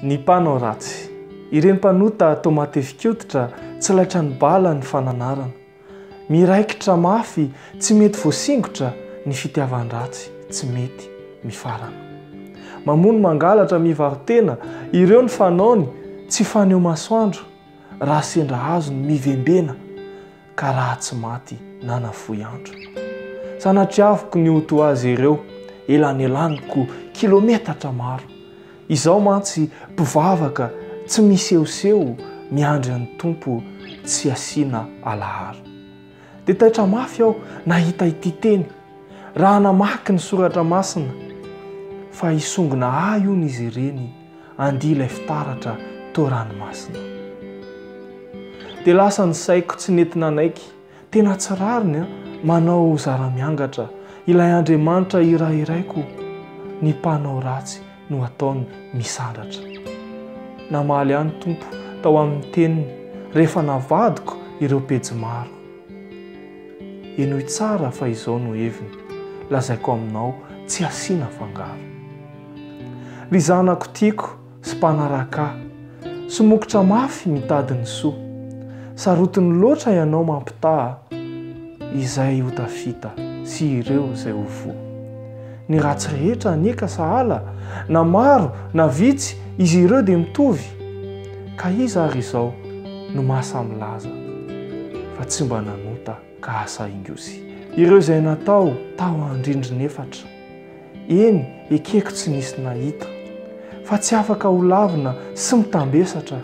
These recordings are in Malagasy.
Ny mpanao ratsy. Ireny mpanota toa matefik'oditra tsy laitra ny bala ny fananarana. Miraikitra mafy tsy mety voasingotra ny fitiavan-dratsy tsy mety mifarana. Mamono mangalatra mivaro-tena ireo ny fanaony tsy faneho masoandro raha sendra azony mivembena. ka raha tsy maty na nafoy andro. Sanatriaviko ny ho toa azy ireo, elanelaniko kilometatra maro. Izaho mantsy mpivavaka tsy misehoseho miandry an'i Tompo tsy asiana alaharo. Dia taitra mafy aho nahita ity teny, raha namaky ny soratra masina, fa hisongona ahy hono izy ireny, andia ilay fitaratra toa ranomasina. Dia lasa ny saiko tsy nety nanaiky, tena tsy rariny an, manao zara-miangatra, ilay Andriamanitra iray iraiko, ny mpanao ratsy no ataony misandratra. Namaly ahy ny Tompo tao amin'ny teniny rehefa navadiko ireo pejy maro. Henoy tsara fa izao no heviny, lazaiko aminao tsy asiana fangaro. Ry zanako tiako sy mpanaraka ahy, somokotra mafy mitady ny soa. Sarotiny loatra ianao mampitaha izay ho tafita sy ireo izay ho voa. Ny ratsy rehetra anie ka sahala, na maro na vitsy izy ireo dia mitovy, ka iza ary izao no maha samy laza fa tsy mba nanota ka asa ingosy. Ireo izay natao tao andrindrina efatra, eny ekeko tsy nisy nahita, fa tsy afaka ho lavina sy mitambesatra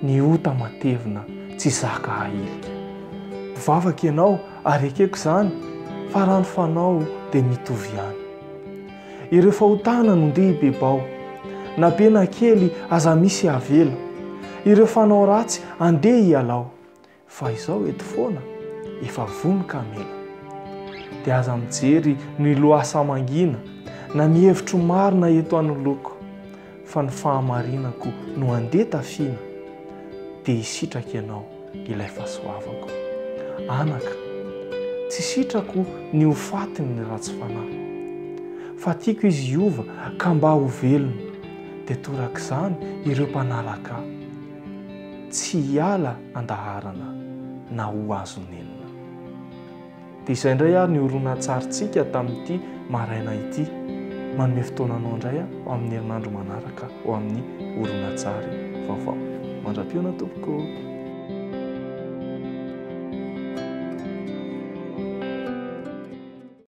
ny ota matevina tsy zaka ahilika. Mpivavaka ianao Ary ekeko izany fa raha ny fanao dia mitovy ihany. Ireo fahotana no ndeha hibebao, na be na kely aza misy avela, ireo fanao ratsy andeha hialao, fa izao eto foana efa vono kamela. Dia aza mijery ny lohasaha mangina na ny hevitro marina eto anoloako. fa ny fahamarinako no handeha tafiana, dia hisitraka ianao, ilay fahasoavako. Anaka, tsy sitrako ny ho fatin'ny ratsy fanahy, fa tiako izy hiova ka mba ho velona, dia torak'izany ireo mpanaraka ahy, tsy hiala an-daharana na ho azon'enina. Dia izay indray ary ny horonantsarintsika tamin'ity maraina ity. Manome fotoana anao indray aho ho amin'ny herinandro manaraka ho amin'ny horonantsary vaovao. Mandra-pihaona tompoko.